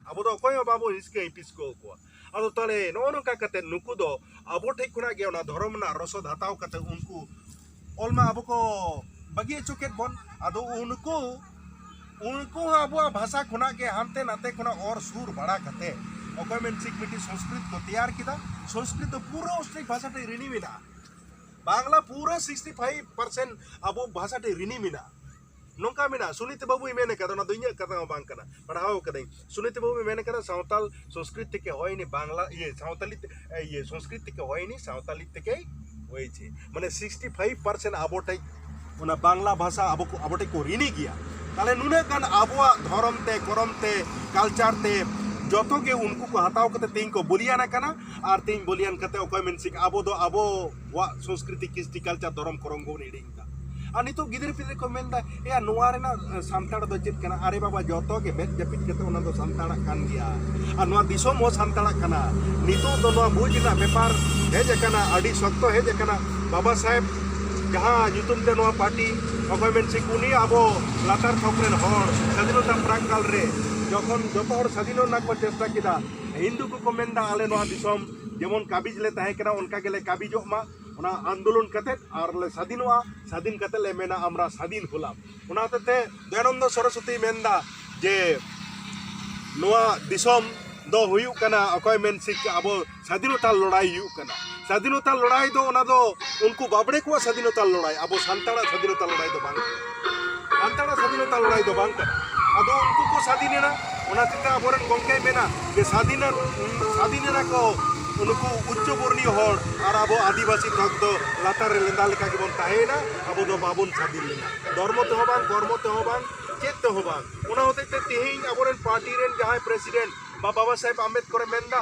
ᱟᱵᱚ ᱫᱚ ᱚᱠᱚᱭ ᱦᱚᱸ ᱵᱟᱵᱚ ᱦᱤᱥᱠᱟᱹ ᱦᱤᱯᱤᱥ ᱠᱚ ᱠᱚᱣᱟ ᱟᱫᱚ ᱛᱟᱦᱞᱮ ᱱᱚᱜᱼᱚ ᱱᱚᱝᱠᱟ ᱠᱟᱛᱮ ᱱᱩᱠᱩ ᱫᱚ ᱟᱵᱚ ᱴᱷᱮᱡ ᱠᱷᱚᱱᱟᱜ ᱜᱮ ᱚᱱᱟ ᱫᱷᱚᱨᱚᱢ ᱨᱮᱱᱟᱜ ᱨᱚᱥᱚᱫ ᱦᱟᱛᱟᱣ ᱠᱟᱛᱮ ᱩᱱᱠᱩ ᱚᱞ ᱢᱟ ᱟᱵᱚ ᱠᱚ ᱵᱟᱹᱜᱤ ᱦᱚᱪᱚ ᱠᱮᱫ ᱵᱚᱱ ᱟᱫᱚ ᱩᱱᱠᱩ ᱩᱱᱠᱩ ᱦᱚᱸ ᱟᱵᱚᱣᱟᱜ ᱵᱷᱟᱥᱟ ᱠᱷᱚᱱᱟᱜ ᱜᱮ ᱦᱟᱱᱛᱮ ᱱᱟᱛᱮ ᱠᱷᱚᱱᱟᱜ ᱚᱨ ᱥᱩᱨ ᱵᱟᱲᱟ ᱠᱟᱛᱮ ᱚᱠᱚᱭ ᱢᱮᱱ ᱥᱤᱠ ᱢᱤᱫᱴᱤᱡ ᱥᱚᱝᱥᱠᱨᱤᱛ ᱠᱚ ᱛᱮᱭᱟᱨ ᱠᱮᱫᱟ ᱥᱚᱝᱥᱠᱨᱤᱛ ᱫᱚ ᱯᱩᱨᱟᱹ ᱚᱥᱴᱨᱤᱠ ᱵᱷᱟᱥᱟ ᱴᱷᱮᱡ ᱨᱤᱱᱤ ᱢᱮᱱᱟᱜᱼᱟ ᱵᱟᱝᱞᱟ ᱯᱩᱨᱟᱹ ᱥᱤᱠᱥᱴᱤ ᱯᱷᱟᱭᱤᱵ ᱯᱟᱨᱥᱮᱱᱴ ᱟᱵᱚ ᱵᱷᱟᱥᱟ ᱴᱷᱮᱡ ᱨᱤᱱᱤ ᱢᱮᱱᱟᱜᱼᱟ ᱱᱚᱝᱠᱟ ᱢᱮᱱᱟᱜᱼᱟ ᱥᱩᱱᱤᱛ ᱵᱟᱹᱵᱩᱭ ᱢᱮᱱ ᱟᱠᱟᱫᱟ ᱚᱱᱟ ᱫᱚ ᱤᱧᱟᱹᱜ ᱠᱟᱛᱷᱟ ᱦᱚᱸ ᱵᱟᱝ ᱠᱟᱱᱟ ᱯᱟᱲᱦᱟᱣ ᱟᱠᱟᱫᱟᱹᱧ ᱥᱩᱱᱤᱛ ᱵᱟᱹᱵᱩᱭ ᱢᱮᱱ ᱟᱠᱟᱫᱟ ᱥᱟᱶᱛᱟᱞ ᱥᱚᱝᱥᱠᱨᱤᱛ ᱛᱮᱠᱮ ᱦᱚᱭ ᱱᱤ ᱵᱟᱝᱞᱟ ᱤᱭᱟᱹ ᱥᱟᱶᱛᱟᱞᱤ ᱤᱭᱟᱹ ᱥᱚᱝᱥᱠᱨᱤᱛ ᱛᱮᱠᱮ ᱦᱚᱭ ᱱᱤ ᱥᱟᱶᱛᱟᱞᱤ ᱛᱮᱠᱮ ᱦᱚᱭ ᱪᱮ ᱢᱟᱱᱮ ᱥᱤᱠᱥᱴᱤ ᱯᱷᱟᱭᱤᱵ ᱯᱟᱨᱥᱮᱱᱴ ᱟᱵᱚ ᱴᱷᱮᱡ ᱚᱱᱟ ᱵᱟᱝᱞᱟ ᱵᱷᱟᱥᱟ ᱟᱵᱚ ᱟᱵᱚ ᱴᱷᱮᱡ ᱠᱚ ᱨᱤᱱᱤ ᱜᱮᱭᱟ ᱛᱟᱦᱞᱮ ᱱᱩᱱᱟᱹᱜ ᱜᱟᱱ ᱟᱵᱚᱣᱟᱜ ᱫᱷᱚᱨᱚᱢ ᱛᱮ ᱠᱚᱨᱚᱢ ᱛᱮ ᱠᱟᱞᱪᱟᱨ ᱛᱮ ᱡᱚᱛᱚ ᱜᱮ ᱩᱱᱠᱩ ᱠᱚ ᱦᱟᱛᱟᱣ ᱠᱟᱛᱮ ᱛᱮᱦᱮᱧ ᱠᱚ ᱵᱚᱞᱤᱭᱟᱱ ᱟᱠᱟᱱᱟ ᱟᱨ ᱛᱮᱦᱮᱧ ᱵᱚᱞᱤᱭᱟᱱ ᱠᱟᱛᱮ ᱚᱠᱚᱭ ᱢᱮᱱ ᱥᱤᱠ ᱟᱵᱚ ᱫᱚ ᱟᱵᱚᱣᱟᱜ ᱥᱚᱝᱥᱠᱨᱤᱛᱤ ᱠᱤᱥᱴᱤ ᱠᱟᱞᱪᱟᱨ ᱫᱷᱚᱨᱚᱢ ᱠᱚᱨᱚᱢ ᱵᱚᱱ ᱦᱤᱲᱤᱧ ᱟᱨ ᱱᱤᱛᱚᱜ ᱜᱤᱫᱽᱨᱟᱹ ᱯᱤᱫᱽᱨᱟᱹ ᱠᱚ ᱢᱮᱱᱫᱟ ᱮᱭᱟ ᱱᱚᱣᱟ ᱨᱮᱱᱟᱜ ᱥᱟᱱᱛᱟᱲ ᱫᱚ ᱪᱮᱫ ᱠᱟᱱᱟ ᱟᱨᱮ ᱵᱟᱵᱟ ᱡᱚᱛᱚ ᱜᱮ ᱢᱮᱫ ᱡᱟᱹᱯᱤᱫ ᱠᱟᱛᱮ ᱚᱱᱟ ᱫᱚ ᱥᱟᱱᱛᱟᱲᱟᱜ ᱠᱟᱱ ᱜᱮᱭᱟ ᱟᱨ ᱱᱚᱣᱟ ᱫᱤᱥᱚᱢ ᱦᱚᱸ ᱥᱟᱱᱛᱟᱲᱟᱜ ᱠᱟᱱᱟ ᱱᱤᱛᱚᱜ ᱫᱚ ᱱᱚᱣᱟ ᱵᱩᱡᱽ ᱨᱮᱱᱟᱜ ᱵᱮᱯᱟᱨ ᱦᱮᱡ ᱟᱠᱟᱱᱟ ᱟᱹᱰᱤ ᱥᱚᱠᱛᱚ ᱦᱮᱡ ᱟᱠᱟᱱᱟ ᱵᱟᱵᱟ ᱥᱟᱦᱮᱵ ᱡᱟᱦᱟᱸ ᱧᱩᱛᱩᱢ ᱛᱮ ᱱᱚᱣᱟ ᱯᱟᱨᱴᱤ ᱚᱠᱚᱭ ᱢᱮᱱ ᱥᱤᱠ ᱩᱱᱤ ᱟᱵᱚ ᱞᱟᱛᱟᱨ ᱛᱷᱚᱠ ᱨᱮᱱ ᱦᱚᱲ ᱥᱟᱹᱫᱷᱤᱱᱚᱛᱟ ᱯᱨᱟᱠ ᱠᱟᱞ ᱨᱮ ᱡᱚᱠᱷᱚᱱ ᱡᱚᱛᱚ ᱦᱚᱲ ᱥᱟᱹᱫᱷᱤᱱᱚᱜ ᱨᱮᱱᱟᱜ ᱠᱚ ᱪᱮᱥᱴᱟ ᱠᱮᱫᱟ ᱦᱤᱱᱫᱩ ᱠᱚᱠᱚ ᱢᱮᱱᱫᱟ ᱟᱞᱮ ᱱᱚᱣᱟ ᱫᱤᱥᱚᱢ ᱡᱮᱢᱚᱱ ᱠᱟᱵᱤᱡᱽ ᱞᱮ ᱛᱟᱦᱮᱸ ᱠᱟᱱᱟ ᱚᱱᱠᱟ ᱜᱮᱞᱮ ᱠᱟᱵᱤᱡᱚᱜ ᱢᱟ ᱚᱱᱟ ᱟᱱᱫᱳᱞᱚᱱ ᱠᱟᱛᱮ ᱟᱨ ᱞᱮ ᱥᱟᱫᱷᱤᱱᱚᱜᱼᱟ ᱥᱟᱫᱷᱤᱱ ᱠᱟᱛᱮ ᱞᱮ ᱢᱮᱱᱟ ᱟᱢᱨᱟ ᱥᱟᱫᱷᱤᱱ ᱦᱩᱞᱟᱢ ᱚᱱᱟ ᱦᱚᱛᱮᱡ ᱛᱮ ᱫᱚᱭᱟᱱᱚᱱᱫᱚ ᱥᱚᱨᱚᱥᱚᱛᱤ ᱢᱮᱱᱫᱟ ᱡᱮ ᱱᱚᱣᱟ ᱫᱤᱥᱚᱢ ᱫᱚ ᱦᱩᱭᱩᱜ ᱠᱟᱱᱟ ᱚᱠᱚᱭ ᱢᱮᱱ ᱥᱤᱠ ᱟᱵᱚ ᱥᱟᱫᱷᱤᱱᱚᱛᱟ ᱞᱚᱲᱟᱭ ᱦᱩᱭᱩᱜ ᱠᱟᱱᱟ ᱥᱟᱫᱷᱤᱱᱚᱛᱟ ᱞᱚᱲᱟᱭ ᱫᱚ ᱚᱱᱟ ᱫᱚ ᱩᱱᱠᱩ ᱵᱟᱵᱽᱲᱮ ᱠᱚᱣᱟᱜ ᱥᱟᱫᱷᱤᱱᱚᱛᱟ ᱞᱚᱲᱟᱭ ᱟᱵᱚ ᱥᱟᱱᱛᱟᱲᱟᱜ ᱥᱟᱫᱷᱤᱱᱚᱛᱟ ᱞᱚᱲᱟᱭ ᱫᱚ ᱵᱟᱝ ᱠᱟᱱᱟ ᱥᱟᱱᱛᱟᱲᱟᱜ ᱥᱟᱫᱷᱤᱱᱚᱛᱟ ᱞᱟᱹᱲᱦᱟᱹᱭ ᱫᱚ ᱵᱟᱝ ᱠᱟᱱᱟ ᱟᱫᱚ ᱩᱱᱠᱩ ᱠᱚ ᱥᱟᱫᱷᱤᱱ ᱮᱱᱟ ᱚᱱᱟ ᱛᱮᱛᱮ ᱟᱵᱚᱨᱮᱱ ᱜᱚᱢᱠᱮᱭ ᱢᱮᱱᱟ ᱡᱮ ᱥᱟᱫᱷᱤᱱ ᱥᱟᱫᱷᱤᱱ ᱮᱱᱟ ᱠᱚ ᱩᱱᱠᱩ ᱩᱪᱪᱚ ᱵᱚᱨᱱᱤᱭᱚ ᱦᱚᱲ ᱟᱨ ᱟᱵᱚ ᱟᱹᱫᱤᱵᱟᱹᱥᱤ ᱵᱷᱟᱜᱽ ᱫᱚ ᱞᱟᱛᱟᱨ ᱨᱮ ᱞᱮᱸᱫᱟ ᱞᱮᱠᱟ ᱜᱮᱵᱚᱱ ᱛᱟᱦᱮᱸᱭᱮᱱᱟ ᱟᱵᱚ ᱫᱚ ᱵᱟᱵᱚᱱ ᱥᱟᱫᱷᱤᱱ ᱞᱮᱱᱟ ᱫᱷᱚᱨᱢᱚ ᱛᱮᱦᱚᱸ ᱵᱟᱝ ᱠᱚᱨᱢᱚ ᱛᱮᱦᱚᱸ ᱵᱟᱝ ᱪᱮᱫ ᱛᱮᱦᱚᱸ ᱵᱟᱝ ᱚᱱᱟ ᱦᱚᱛᱮᱡ ᱛᱮ ᱛᱮᱦᱮᱧ ᱟᱵᱚᱨᱮᱱ ᱯᱟᱨᱴᱤ ᱨᱮᱱ ᱡᱟᱦᱟᱸᱭ ᱯᱨᱮᱥᱤᱰᱮᱱᱴ ᱵᱟᱵᱟ ᱥᱟᱦᱮᱵᱽ ᱟᱢᱵᱮᱫᱠᱚᱨᱮ ᱢᱮᱱᱫᱟ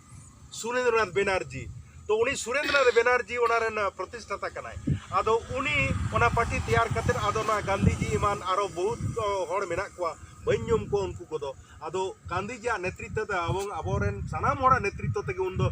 ᱥᱩᱨᱮᱱᱫᱨᱚᱱᱟᱛᱷ ᱵᱮᱱᱟᱨᱡᱤ ᱛᱚ ᱩᱱᱤ ᱥᱩᱨᱮᱱᱫᱨᱚᱱᱟᱛᱷ ᱵᱮᱱᱟᱨᱡᱤ ᱚᱱᱟ ᱨᱮᱱ ᱯᱨᱚᱛᱤᱥᱴᱷᱟᱛᱟ ᱠᱟᱱᱟᱭ ᱟᱫᱚ ᱩᱱᱤ ᱚᱱᱟ ᱯᱟᱨᱴᱤ ᱛᱮᱭᱟᱨ ᱠᱟᱛᱮ ᱟᱫᱚ ᱱᱚᱣᱟ ᱜᱟᱱᱫᱷᱤᱡᱤ ᱮᱢᱟᱱ ᱟᱨᱚ ᱵᱚᱦᱩᱛ ᱦᱚᱲ ᱢᱮᱱᱟᱜ ᱠᱚᱣᱟ ᱵᱟᱹᱧ ᱧᱩᱢ ᱠᱚᱣᱟ ᱩᱱᱠᱩ ᱠᱚᱫᱚ ᱟᱫᱚ ᱜᱟᱱᱫᱷᱤᱡᱤᱭᱟᱜ ᱱᱮᱛᱨᱤᱛᱛᱚ ᱛᱮ ᱟᱵᱚ ᱟᱵᱚᱨᱮᱱ ᱥᱟᱱᱟᱢ ᱦᱚᱲᱟᱜ ᱱᱮᱛᱨᱤᱛᱛᱚ ᱛᱮᱜᱮ ᱩᱱᱫᱚ